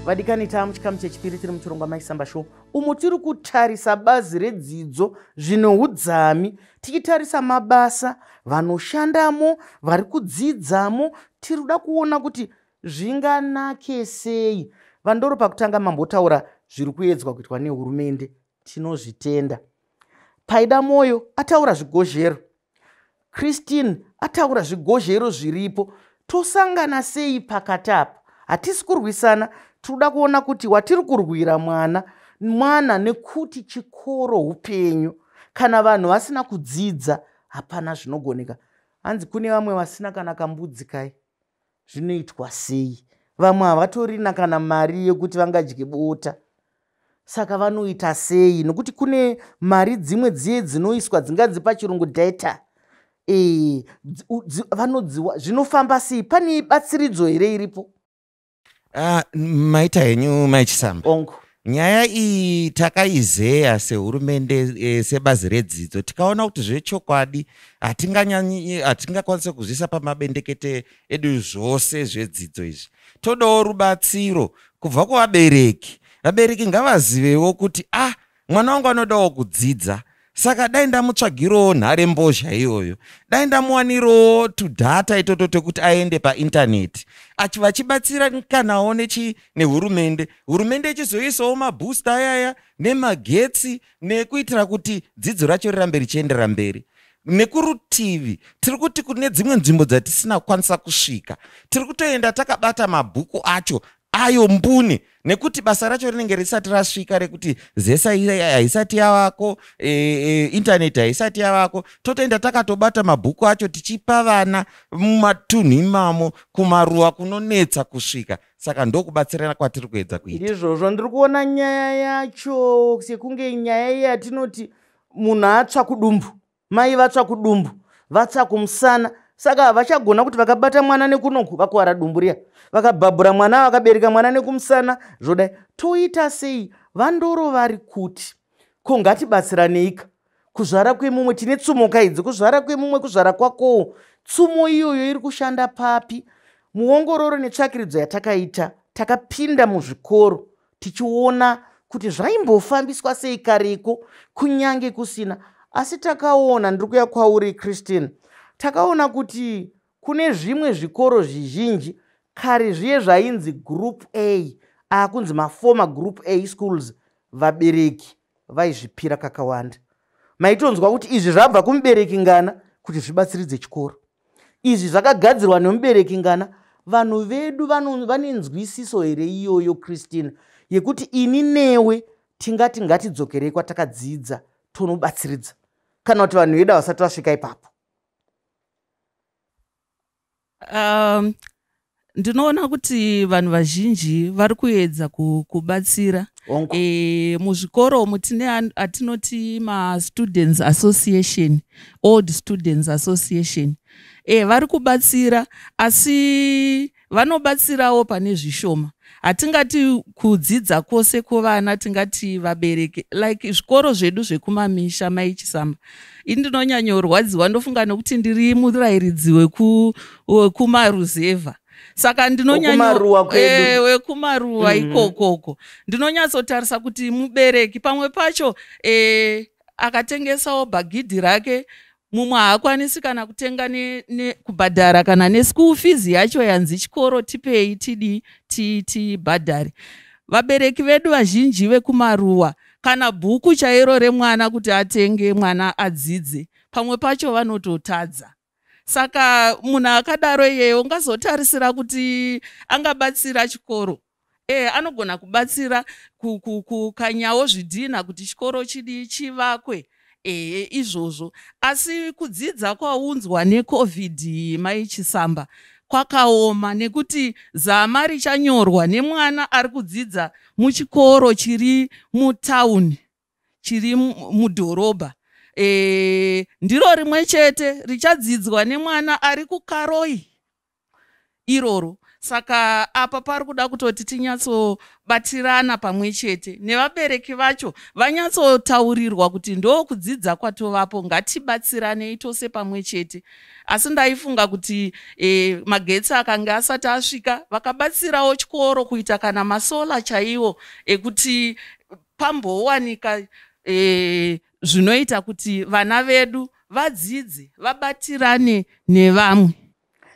vadikani taa muchikamu chechipiri tiri muchirongwa maisamba show umo tiri kutarisa bazi redzidzo zvine udzami tichitarisa mabasa vanoshandamo vari kudzidzamo tiri kuda kuona kuti zvinganake sei vandoro pakutanga mambotaura zviri kuedzwa kuitwa nehurumende tinozvitenda paida mwoyo ataura zvigozhero christine ataura zvigozhero zviripo tosangana sei pakati apa hatisi kurwisana tinoda kuona kuti watiri kurwira mwana mwana nekuti chikoro upenyu kana vanhu vasina kudzidza hapana zvinogoneka hanzi kune vamwe vasina kana kambudzi kai zvinoitwa sei vamwe havatorina kana mari yekuti vangadye bota saka vanoita sei nokuti kune mari dzimwe dziye dzinoiswa dzinganzi pachirungu data e, vanodziwa zvinofamba sei pane batsiridzo here iripo Uh, maita henyu mai chisamba ongo nyaya iyi takaizeya sehurumende e, sebazi redzidzo tikaona kuti zvechokwadi hatinganyanyi hatingakwanise kuzvisa pamabendekete edu zvose zvedzidzo izvi todawo rubatsiro kubva kuvabereki vabereki ngavazivewo kuti ah mwana wangu anodawo kudzidza saka dai ndamutsvagirawo nhare mbozha iyoyo dai ndamuwanirawo tudhata itoto tekuti aende paintaneti achi vachibatsira kanawo nechi nehurumende hurumende ichizoisawo mabhoosta ayaya nemagetsi nekuitira kuti dzidzo racho rirambe richiendera mberi nekurutivi tiri kuti kune dzimwe nzvimbo dzatisina kukwanisa kusvika tiri kutoenda takabata mabhuku acho ayo mbune nekuti basa racho rinenge risati rasvika rekuti zesa haisati yavako e, e, intaneti haisati yavako totoenda takatobata mabhuku acho tichipa vana mumatunhu imamo kumaruwa kunonetsa kusvika saka ndokubatsirana kwatiri kuedza kuita ndizvozvo ndiri kuona nyaya yacho sekunge nyaya yatinoti munhu atsva kudumbu mai vatsva kudumbu vatsva kumusana saka havachagona kuti vakabata mwana nekunoku vakuvara dumbu riya vakabhabhura mwana vakabereka mwana nekumusana zvodai toita sei vandoro vari kuti ko ngatibatsiraneika kuzvara kwemumwe tine tsumo kaidzi kuzvara kwemumwe kuzvara kwakowo tsumo iyoyo iri kushanda papi muongororo netsvakiridzo yatakaita takapinda muzvikoro tichiona kuti zvaimbofambiswa sei kareko kunyange kusina asi takaona ndiri kuya kwauri christine takaona kuti kune zvimwe zvikoro zvizhinji kare zviye zvainzi group a akunzi maformer group a schools vabereki vaizvipira kakawanda maitonzwa kuti izvi zvabva kumubereki ngana kuti zvibatsiridze chikoro izvi zvakagadzirwa nemubereki ngana vanhu vedu vane nzwisiso here iyoyo christina yekuti ini newe tingati ngatidzokerei kwatakadzidza tonobatsiridza kana kuti vanhu vedu havasati vasvika ipapo um, ndinoona kuti vanhu vazhinji vari kuedza kubatsira e, muzvikoro umu tine atinoti mastudents association old students association e, vari kubatsira asi vanobatsirawo pane zvishoma hatingati kudzidza kwose kwovana tingati vabereki like zvikoro zvedu zvekumamisha mai chisamba ini ndinonyanyorwadziwa ndofunga nekuti ndiri murairidzi wekumaruzevha saka ndinonyanyowekumaruwa eh, mm-hmm. ikokoko ndinonyatsotarisa kuti mubereki pamwe pacho e, akatengesawo bhagidhi rake mumwe haakwanisi kana kutenga ne, ne, kubhadhara kana neschool fees yacho yanzi chikoro tipei tidii tibhadhare ti, vabereki vedu vazhinji vekumaruwa kana bhuku chairo remwana kuti atenge mwana adzidze pamwe pacho vanototadza saka munhu akadaro iyeyo ungazotarisira kuti angabatsira chikoro e, anogona kubatsira kukanyawo zvidhinha kuti chikoro chidii chivakwe ehe izvozvo asi kudzidza kwaunzwa necovid mai chisamba kwakaoma nekuti zama richanyorwa nemwana ari kudzidza muchikoro chiri mutauni chiri mudhorobha e, ndiro rimwe chete richadzidzwa nemwana ari kukaroi iroro saka apa pari kuda kutoti tinyatsobatirana pamwe chete nevabereki vacho vanyatsotaurirwa kuti ndo kudzidza kwatovapo ngatibatsiranei tose pamwe chete asi ndaifunga kuti e, magetsi akange asati asvika vakabatsirawo chikoro kuita kana masola chaiwo ekuti pambowanika e, zvinoita kuti vana vedu vadzidze vabatirane nevamwe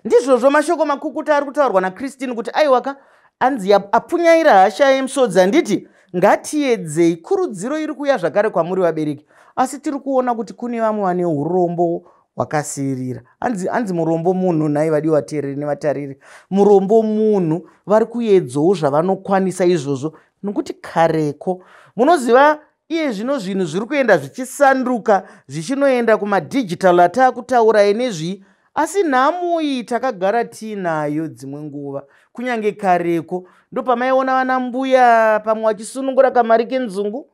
Ndizvozvo mashoko makukuta ari kutaurwa naChristine kuti aiwa ka anzi apfunyaira hasha yemusodzi handiti ngatiedzei kurudziro iri kuuya zvakare kwamuri vabereki asi tiri kuona kuti kune vamwe vane urombo hwakasiirira anzi, anzi murombo munhu nhai vadi vateereri nevatariri murombo munhu vari kuedzawo zvavanokwanisa izvozvo nokuti kareko munoziva Iye zvino zvinhu zviri kuenda zvichisanduka zvichinoenda kumadigital ataakutaura enezvii asi nhamo iyi takagara tiinayo dzimwe nguva kunyange kareko ndopamaiona vana mbuya pamwe vachisunungura kamari kenzungu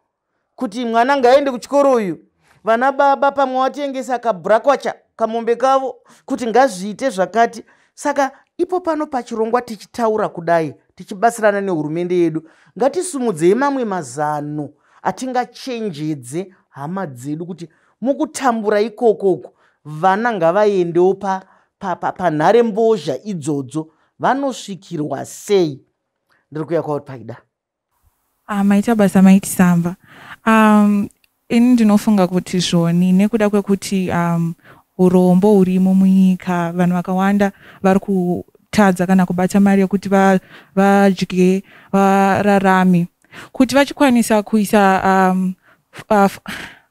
kuti mwana ngaaende kuchikoro uyu vana baba pamwe vatengesa kabrakwacha kamombe kavo kuti ngazviite zvakati saka ipo pano pachirongwa tichitaura kudai tichibatsirana nehurumende yedu ngatisumudzei mamwe mazano atingachenjedze hama dzedu kuti mukutambura ikoko uku vana ngavaendewo panhare pa, pa, pa mbozha idzodzo vanosvikirwa sei ndiri kuya kwauri paida Ah, maita basa maiti samba. Um, ini ndinofunga kuti zvoni nekuda kwekuti um, urombo hurimo munyika vanhu vakawanda vari kutadza kana kubata mari yekuti vadye vararame kuti vachikwanisa kuisa um, uh,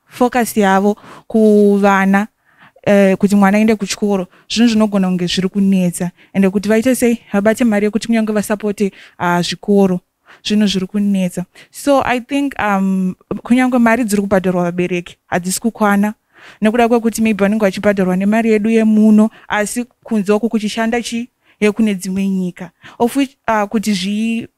focus yavo kuvana uh, kuti mwana aende kuchikoro zvinhu zvinogona kunge zviri kunetsa ende kuti vaite sei vabate mari yekuti kunyange vasapote uh, zvikoro zvinhu zviri kunetsa so i think um, kunyange mari dziri kubhadharwa vabereki hadzisi kukwana nekuda kwekuti maybe vanenge vachibhadharwa nemari yedu yemuno asi kunze uku kuchishanda chii yekune dzimwe nyika of which uh, kuti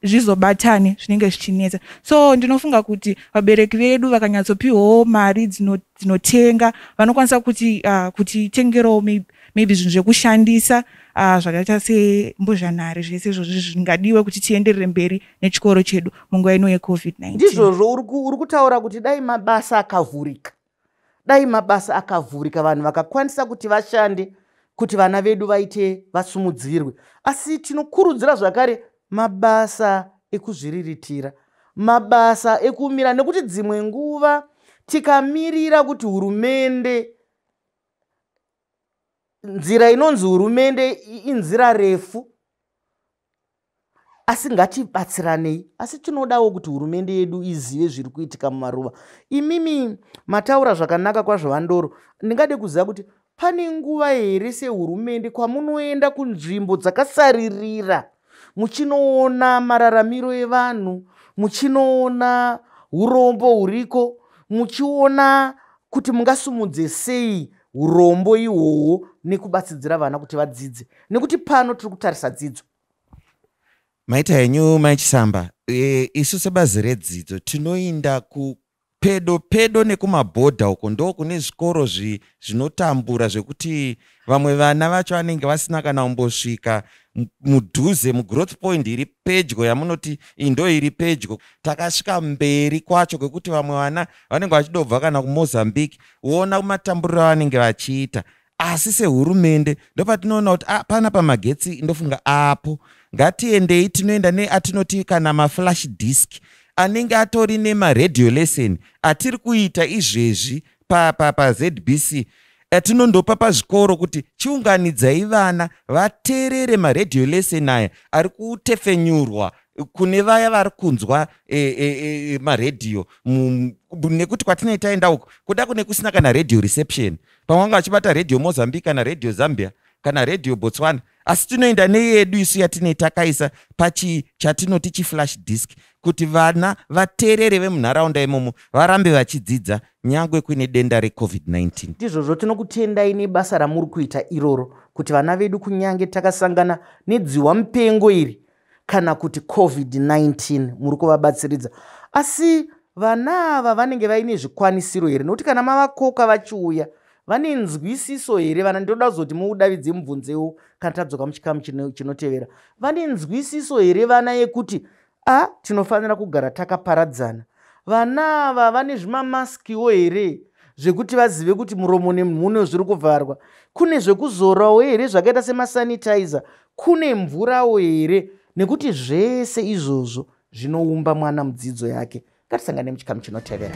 zvizobatane zvinenge zvichinetsa so ndinofunga kuti vabereki vedu vakanyatsopiwawo mari dzinotenga dzino vanokwanisa kuti uh, kuti tengerawo maybe, maybe zvinhu zvekushandisa uh, zvakaita sembozhanhare zvese izvozvi zvingadiwe kuti tienderere mberi nechikoro chedu munguva ino yecovid-19 ndizvozvo uri kutaura kuti dai mabasa akavhurika dai mabasa akavhurika vanhu vakakwanisa kuti vashande kuti vana vedu vaite vasumudzirwe asi tinokurudzira zvakare mabasa ekuzviriritira mabasa ekumira nekuti dzimwe nguva tikamirira kuti hurumende nzira inonzi hurumende inzira refu asi ngatibatsiranei asi tinodawo kuti hurumende yedu izive zviri kuitika mumaruva imimi mataura zvakanaka kwazvo vandoro ndingade kuziva kuti pane nguva here sehurumende kwamunoenda kunzvimbo dzakasaririra muchinoona mararamiro evanhu muchinoona urombo huriko muchiona kuti mungasumudze sei urombo ihwohwo nekubatsidzira vana kuti vadzidze nekuti pano tiri kutarisa dzidzo maita henyu mai chisamba e, isu sebazi redzidzo tinoinda ku pedo pedo nekumabhodha uko ndo kune zvikoro zvinotambura zvekuti vamwe vana vacho vanenge vasina kana kumbosvika mudhuze mugrowth point iri pedyo yamunoti indo iri pedyo takasvika mberi kwacho kwekuti vamwe vana vanenge vachidobva kana kumozambique woona matamburiro avanenge vachiita asi sehurumende ndopatinoona kuti ah, pana pamagetsi ndofunga apo ngatiendei tinoenda neatinoti kana maflash disk anenge atori nemaradio lesson atiri kuita izvezvi pazbc pa, pa atinondopa pazvikoro kuti chiunganidzai vana vateerere maradio lesson aya ari kutefenyurwa kune vaya vari kunzwa e, e, e, maredhiyo nekuti kwatinei taenda uko kuda kune kusina kana radio reception pamwe vanga vachibata radio mozambique kana radio zambia kana radio botswana asi tinoenda neyedu isu yatinei takaisa pachi chatinoti chiflash disk kuti vana vateerere vemunharaunda imomo varambe vachidzidza nyangwe kuine denda recovid-19 ndizvozvo tinokutendai nebasa ramuri kuita iroro kuti vana vedu kunyange takasangana nedziwa mupengo iri kana kuti covid-19 muri kuvabatsiridza asi vana ava vanenge vaine zvikwanisiro here nokuti kana mavakoka vachiuya vane nzwisiso here vana ndinoda kuzoti muudavidze mubvunzewo kana tadzoka muchikamu chinotevera vane nzwisiso here vana yekuti a tinofanira kugara takaparadzana vana ava vane zvimamaskiwo here zvekuti vazive kuti muromo nemhuno zviri kuvharwa kune zvekuzorawo here zvakaita semasanitizer Kune mvurawo here? Nekuti zvese izvozvo zvinoumba mwana mudzidzo yake. Ngatisangane muchikamu chinotevera.